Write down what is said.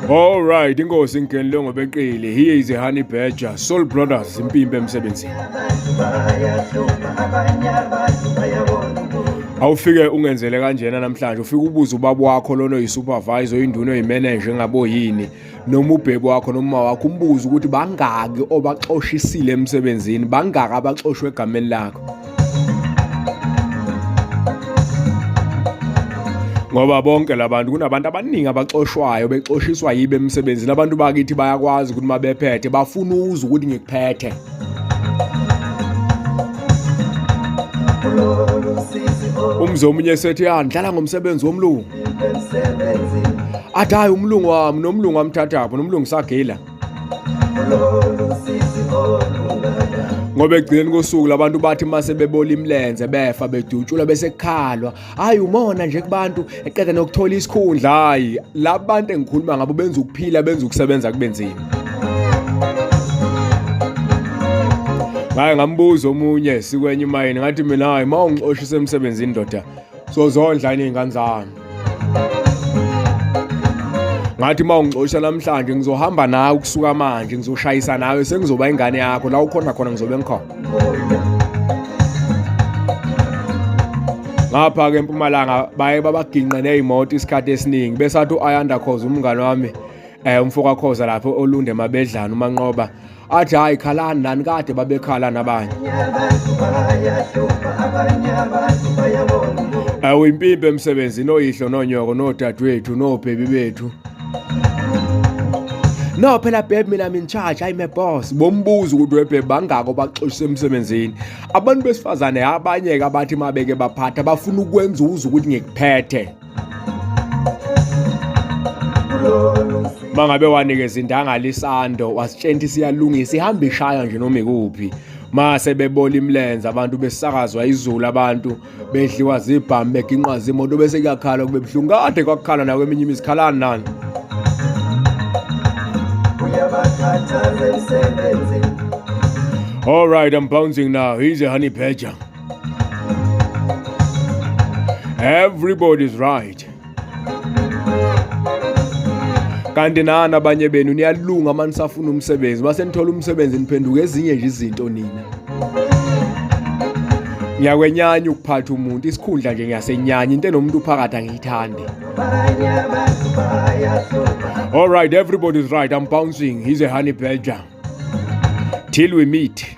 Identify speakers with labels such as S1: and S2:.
S1: All right, inkosi ngeni lo ngobeqile. Here is a honey badger, Soul Brothers impimpe emsebenzini. Awufike ungenzele kanjena namhlanje, ufike ubuze ubaba wakho lona uyi supervisor, induna, uyi manager ngabo yini. noma ubheki wakho noma wakho umbuze ukuthi bangaki obaxoshisile emsebenzini bangaki abaxoshwe egameni lakho ngoba bonke labantu kunabantu abaningi abaxoshwayo bexoshiswa yibe emsebenzini abantu bakithi bayakwazi ukuthi uma bephethe bafuna uzwe ukuthi ngikuphethe umzi omunye sethi ya ah, ndlala ngomsebenzi womlungu athi hayi umlungu wami nomlungu wamthathapho nomlungu sagila ngoba ekugcineni kosuku labantu bathi uma sebebola imilenze befa bedutshulwa bese kukhalwa hhayi umona nje kubantu eqeda nokuthola isikhundla hhayi la bantu engikhuluma ngabo benza ukuphila benza ukusebenza kube nzima ngaye ngambuza omunye sikwenye umayini ngathi mina hhayi uma ungixoshise emsebenzini ndoda sozondla iningane zami ngathi uma ungixosha namhlanje ngizohamba nawe ukusuka manje ngizoshayisa nawe sengizoba ingane yakho la ukhona khona ngizobe ngikhona ngapha-ke empumalanga baye babaginqe ney'moto isikhathi esiningi besathi u-ayanda khoza umngane wami um umfokakhoza lapho olunde mabedlana umanqoba athi hayi khalani lani kade babekhala nabanye awu impimpi emsebenzini oyihlo nonyoko nodadewethu nobhebi bethu no phela bheb mina I'm in charge hayi my boss bombuza ukuthi webheb bangako baxoshise emsebenzini abantu besifazane abanye-ke abathi mabeke baphatha bafuna ukwenza uze ukuthi ngikuphethe mangabe wanikeza indangala isando wasitshenta isiyalungisa ihamba ishaya nje noma ikuphi mase bebola imlenze abantu besakazwa izulu abantu bedliwa zibhamu beginqwa zimoto bese kuyakhala kube buhlungu kade kwakukhala nawe eminye imizikhalani nani All right, I'm bouncing now. He's a honey badger. everybody's right kanti nani abanye benu niyalunga uma nisafuna umsebenzi uma senithola umsebenzi niphenduka ezinye nje izinto nina ngiyakwenyanya ukuphatha umuntu isikhundla nje ngiyasenyanya into enomuntu uphakathi angiyithandi all right everybody's right i'm bouncing he's a honey badger till we meet